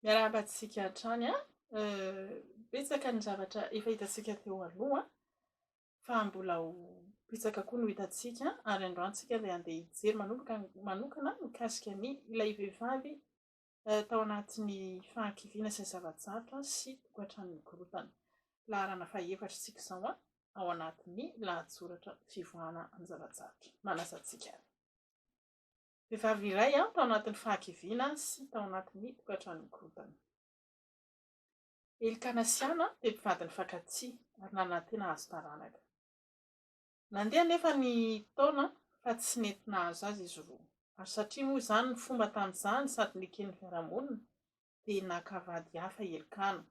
Miarahaba antsika hatrany a! Betsaka ny zavatra efa hitantsika teo aloha fa mbola ho betsaka koa no hitantsika ary androany tsika dia handeha hijery manomboka manokana mikasika ny ilay vehivavy tao anatin'ny fahakiviana sy ny zava-tsarotra sy tokantranon'ny korotana. Laharana fahefatra isika izao a! Ao anatin'ny lahatsoratra fivoahana amin'ny zava-tsarotra. Manasa antsika. Vehivavy iray tao anatin'ny fahakiviana sy tao anatin'ny tokantrano mikorontana. Elkana sy Hana dia mpivady nifankatia ary nanantena hahazo taranaka. Nandeha anefa ny taona fa tsy nety nahazo azy izy roa, ary satria moa izany ny fomba tamin'izany sady neken'ny fiarahamonina, dia naka vady hafa i Elkana,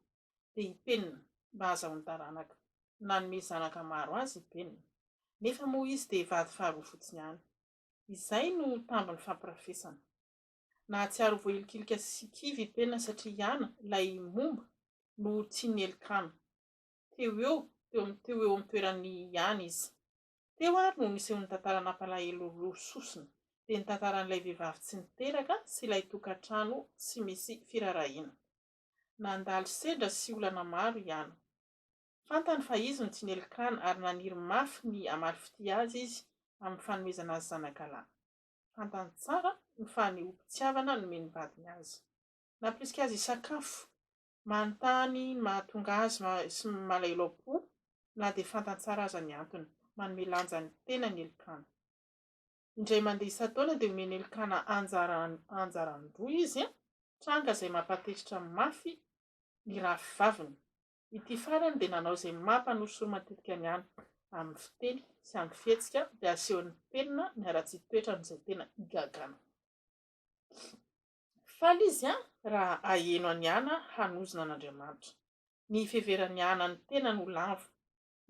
dia i Penina, mba hahazahoany taranaka. Nanome zanaka maro azy i Penina. Nefa moa izy dia vady faharoa fotsiny ihany. Izay no tambiny fampirafesana. Nahatsiaro ho voailikilika sy kivy i Pena satria Yana, ilay momba, no tsy nielikana. Teo eo, teo amin'ny teo eo amin'ny toeran'i Yana izy. Teo ary no niseho ny tantara nampalahelo roa sosona. Dia ny tantaran'ilay vehivavy tsy niteraka sy ilay tokantrano tsy misy firaharahiana. Nandalo sedra sy olana maro i Yana. Fantany fa izy no tsy nely kran ary naniry mafy ny hamaly fitia azy izy amin'ny fanomezana azy zanakalahy. Fantany tsara ny fanehoam-pitiavana nomen'ny vadiny azy. Nampirisika azy hisakafo. Manontany ny mahatonga azy sy malailao-po, na dia fantany tsara aza ny antony. Manome lanja ny tenany Elkana. Indray mandeha isan-taona dia omen'i Elkana anjara anjaran-droa izy, tranga izay mampahatezitra mafy ny rahavaviny. Ity farany dia nanao izay maha mpanosoro matetika ny any amin'ny fiteny sy amin'ny fihetsika dia asehon'ny penina ny haratsian toetrany izay tena igagana. Faly izy an! raha aheno an'i Ana hanozona an'Andriamanitra. Ny hiveveran'i Ana ny tenany ho lavo,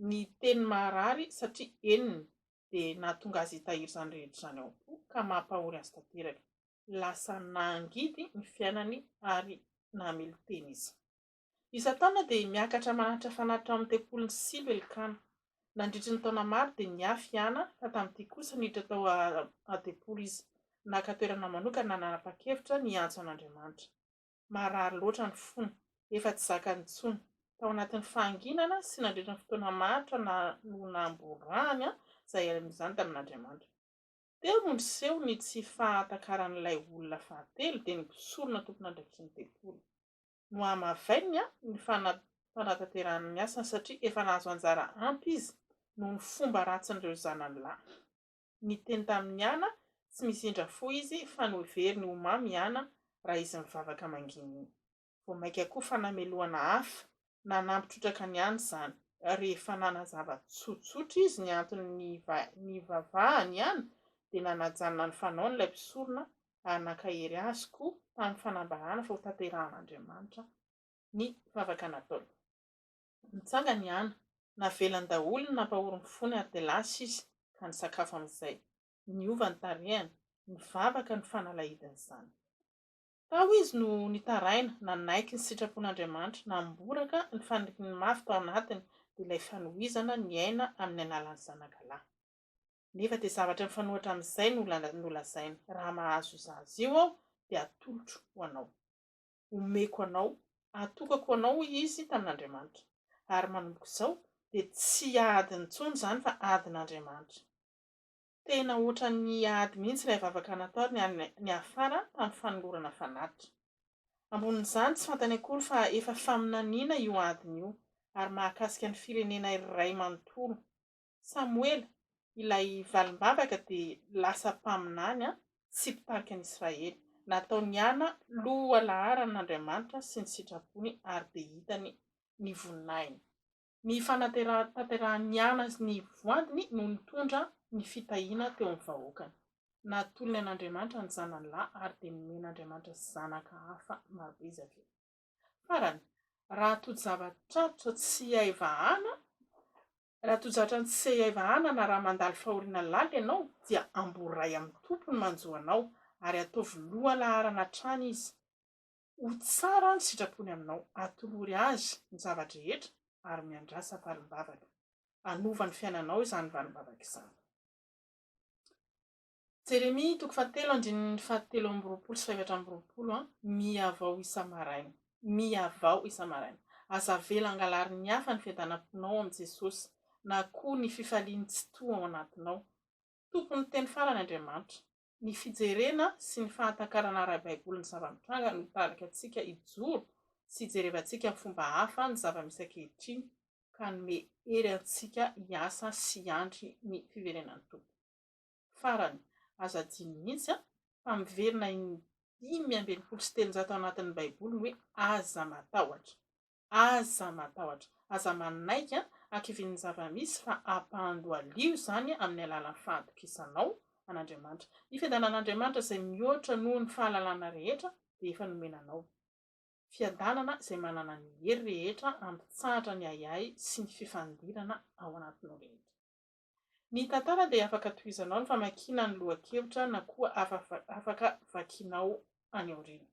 ny teniny maharary satria henony dia nahatonga azy hitahiry izany rehetra izany ao am-po ka mampahory azy tanteraka. Lasa nangidy ny fiainany ary namelon-tena izy. Isan-taona dia miakatra manatitra fanatitra ao amin'ny tempolin'i Silo Elkana. Nandritry ny taona maro dia niafy i Ana ka tamin'ity kosa niditra tao an-tempoly izy. Naka toerana manokana nanapa-kevitra ny hiantso an'Andriamanitra. Marary loatra ny fony. Efa tsy zakany intsony. Tao anatin'ny fahanginana sy nandritry ny fotoana maharitra no namborahany izay hiainany izany tamin'Andriamanitra. Teo no niseho ny tsy fahatakaran'ilay olona fahatelo dia ny mpisorona tompon'andraikin'ny tempoly. nohamavainina ny fanatanterahana ny asany satria efa nahazo anjara ampy izy noho ny fomba ratsin'ireo zanany lahy. Niteny tamin'i Ana tsy misy indra fo izy fa noheveriny ho mamy i Ana raha izy mivavaka mangina iny. Vao mainka koa fa namelohana hafa na nampitrotraka ny any izany. Rehefa nanazava tsotsotra izy ny antony nivavahany i Ana dia nanajanona ny fanaony ilay mpisorona ary nankahery azy koa tamin'ny fanambarana fa hotanterahan'Andriamanitra ny vavaka nataony. Nitsangana i Ana. Navelany daholo ny nampahory ny fony ary dia lasa izy ka nisakafo amin'izay. Niova ny tarehiny. Nivavaka ny fanalahidiny izany. Tao izy no nitaraina, nanaiky ny sitrapon'Andriamanitra, namboraka ny faniriany mafy tao anatiny, dia ilay fanohizana ny aina amin'ny alalan'ny zanaka lahy. nefa dia zavatra mifanohitra amin'izay no nolazainy. Raha mahazo izah azy io aho, dia atolotro ho anao. Omeko anao. Atokako ho anao, hoy izy tamin'Andriamanitra. Ary manomboka izao, dia tsy adiny intsony izany fa adin'Andriamanitra. Tena hoatran'ny ady mihitsy ilay vavaka nataony any niafara tamin'ny fanolorana fanatitra. Ambonin'izany, tsy fantany akory fa efa faminaniana io adiny io, ary mahakasika ny firenena iray manontolo. Samoela, ilay valim-bavaka dia lasa mpaminany sy mpitarika ny Israely. Nataony hiana loha laharan' Andriamanitra sy ny sitrapony ary dia hitany ny voninahiny. Ny fanatanterahany ny ana sy ny voadiny no nitondra ny fitahiana teo amin'ny vahoakany. Natolony an' Andriamanitra ny zanany lahy ary dia nomen' Andriamanitra zanaka hafa marobe izy avy eo. Farany, raha tojo-java-tratra tsy hay vahana, Raha toa zatra tsy sehy hay vahana na raha mandalo fahoriana lalina ianao dia amboary ray amin'ny Tompo ny manjo anao ary ataovy lohalaharana hatrany Izy. Ho tsara ny sitrapony aminao. Atolory Azy ny zava-drehetra ary miandrasa valim-bavaka. Hanova ny fiainanao izany valim-bavaka izany. Jeremia toko fahatelo andininy fahatelo amby roapolo sy fahefatra amby roapolo, Mihavao isa-maraina, mihavao isa-maraina. Aza avela hangalarin'ny hafa ny fiadanam-ponao amin'i Jesosy, na koa ny fifalian'ny tsitoha ao anatinao. Tompon'ny teny farany Andriamanitra. Ny fijerena sy ny fahatakarana ara-baiboly ny zava-mitranga no hitarika antsika hijoro sy hijerevantsika amin'ny fomba hafa ny zava-misy ankehitriny, ka hanome hery antsika hiasa sy hiandry ny fiverenan'ny Tompo. Farany, aza adino mihitsy fa miverina in dimy amby enimpolo sy telonjato ao anatin'ny Baiboly ny hoe aza matahotra. Aza matahotra. Aza manaiky hakivian'ny zava-misy fa ampandohalio izany amin'ny alalan'ny fahatokisanao an'Andriamanitra. Ny fiadanan'Andriamanitra izay mihoatra noho ny fahalalana rehetra dia efa nomena anao. Fiadanana izay manana ny hery rehetra hampitsahatra ny ahiahy sy ny fifandirana ao anatinao rehetra. Ny tantara dia afaka tohizanao ny famakiana ny lohan-kevitra na koa afaka vakianao any aoriana.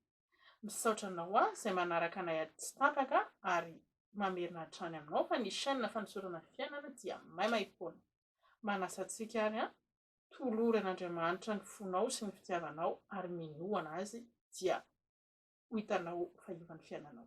Misaotra anao an izay manaraka anay ady tsy tapaka ary mamerina hatrany aminao fa ny chaîne fanosorana fiainana dia maimaimpoana. Manasa antsika ary an, tolory an'Andriamanitra ny fonao sy ny fitiavanao ary minoana Azy dia ho hitanao fahiovan'ny fiainanao.